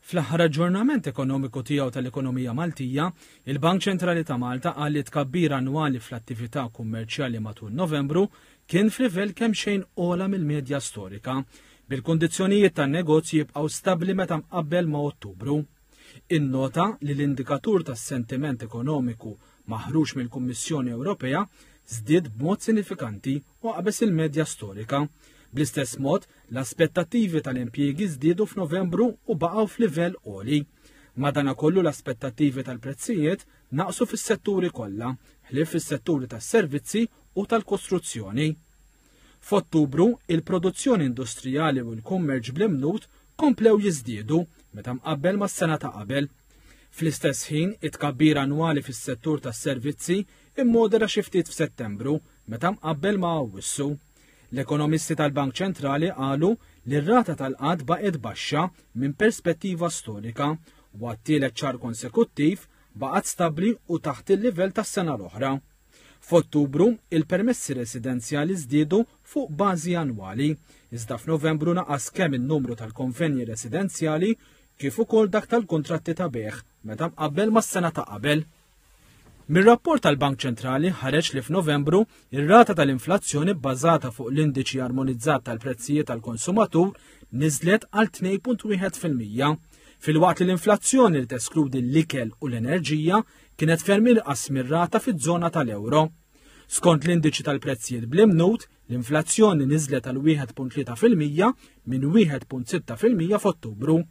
Fl-aħħar aġġornament ekonomiku tiegħu tal-ekonomija Maltija, il-Bank Ċentrali ta' Malta qal li tkabbir annwali fl-attività kummerċjali matul Novembru kien f'livell kemm xejn ogħla mill-medja storika, bil-kundizzjonijiet tan-negozji jibqgħu stabbli meta mqabbel ma' Ottubru. Innota li l-indikatur tas-sentiment ekonomiku maħruġ mill-Kummissjoni Ewropea żdied b'mod sinifikanti u qabeż il-medja storika. Bl-istess mod, L-aspettattivi tal-impjiegi żdiedu f'Novembru u baqgħu f'livell għoli. Madanakollu l-aspettattivi tal-prezzijiet naqsu fis-setturi kollha, ħlief fis-setturi tas-servizzi u tal-kostruzzjoni. F'Ottubru, il-produzzjoni industrijali u l-kummerċ bl-imnut komplew jiżdiedu meta mqabbel mas-sena ta' qabel. Fl-istess ħin, it-tkabbir annwali fis-settur tas-servizzi immodera xi ftit f'Settembru meta mqabbel ma' Awwissu. L-ekonomisti tal-Bank Ċentrali qalu li r-rata tal-qgħad baqgħet baxxa minn perspettiva storika u għat-tielet xahar konsekuttiv baqgħet stabbli u taħt il-livell tas-sena l-oħra. F'Ottubru, il-permessi residenzjali żdiedu fuq bażi annwali, iżda f'Novembru naqas kemm in-numru tal-konvenji residenzjali kif ukoll dak tal-kuntratti ta' bejgħ meta mqabbel mas-sena ta' qabel. Mir-rapport tal-Bank Ċentrali ħareġ li f'Novembru ir-rata tal-inflazzjoni bbażata fuq l-indiċi armonizzat tal-prezzijiet tal-konsumatur niżlet għal 2.1 fil-mija, filwaqt li l-inflazzjoni li teskludi l-ikel u l-enerġija kienet ferm inqas mir-rata fiż-żona tal-euro. Skont l-indiċi tal-prezzijiet bl-imnut, l-inflazzjoni niżlet għal 1.3 fil-mija minn 1.6 fil-mija f'Ottubru.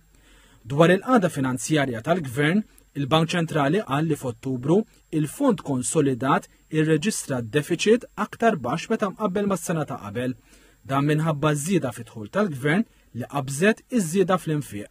Dwar il-qada finanzjarja tal-Gvern, Il-Bank Ċentrali qal li f'Ottubru, il-fond konsolidat irreġistra defiċit aktar baxx meta mqabbel mas-sena ta' qabel. Dan minħabba ż-żieda fid-dħul tal-Gvern li qabżet iż-żieda fl-infiq.